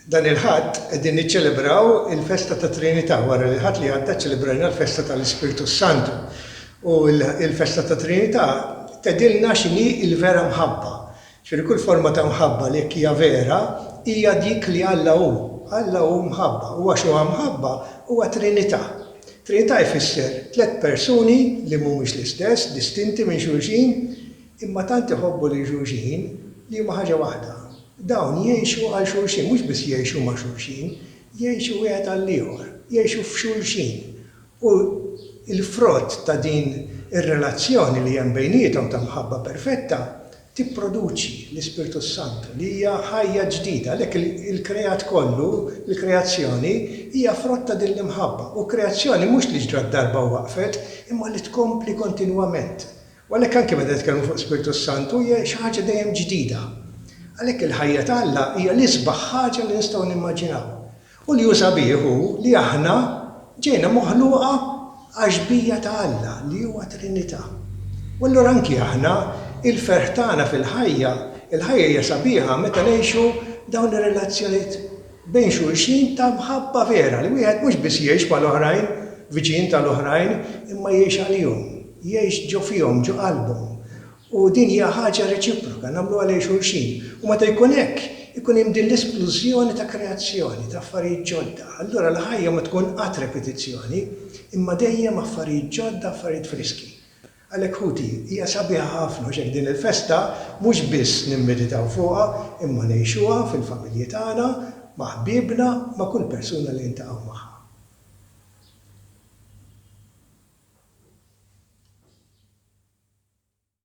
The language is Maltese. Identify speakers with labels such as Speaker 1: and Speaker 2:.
Speaker 1: Dan il-Ħadd qegħdin niċċelebraw il-festa tat-Trinità. Wara li l-Ħadd li għadda ċċelebrajna l-festa tal-Ispirtu s-Santu. U l-festa tat-Trinità tgħidilna x'inhi l-vera mħabba. Ġifieri kull forma ta' mħabba li jekk hija vera, hija dik li Alla hu. Alla hu mħabba. U għax huwa mħabba, huwa Trinità. Trinità jfisser tliet persuni li mhumiex l-istess, distinti minn xulxin, Imma tant iħobbu lil xulxin li huma ħaġa waħda. Dawn jgħixu għal xulxin, mhux biss jgħixu ma' xulxin, jgħixu wieħed għall-ieħor, jgħixu f'xulxin. U l-frott ta' din ir-relazzjoni li hemm bejniethom ta' mħabba perfetta tipproduċi l-Ispirtu s-Santu, li hija ħajja ġdida. Għalhekk il-kreat kollu, il-kreazzjoni, hija frott ta' din l-imħabba. U kreazzjoni mhux li ġrat darba u waqfet, imma li tkompli kontinwament. U għalhekk anke meta nitkellmu fuq l-Ispirtu s-Santu hija xi ħaġa dejjem ġdida. Għalhekk il-ħajja ta' Alla hija l-isbaħ ħaġa li nistgħu nimmaġinaw. U li hu sabiħ hu li aħna ġejna moħluqa għax-xbija ta' Alla li huwa Trinità. U allura anki aħna, il-ferħ tagħna fil-ħajja, il-ħajja hija sabiħa meta ngħixu dawn ir-relazzjonijiet bejn xulxin ta' mħabba vera, li wieħed mhux biss jgħix mal-oħrajn, viċin tal-oħrajn, imma jgħix għalihom, jgħix ġo fihom, ġo qalbhom. U din hija ħaġa reċiproka, nagħmluha lejn xulxin. U meta jkun hekk, ikun hemm din l-esplużjoni ta' kreazzjoni, ta' affarijiet ġodda. Allura l-ħajja ma tkun qatt repetizzjoni, imma dejjem affarijiet ġodda, affarijiet friski. Għalhekk ħuti, hija sabiħa ħafna għax hekk din il-festa mhux biss nimmeditaw fuqha imma ngħixuha fil-familji tagħna, ma' ħbiebna, ma' kull persuna li niltaqgħu magħha.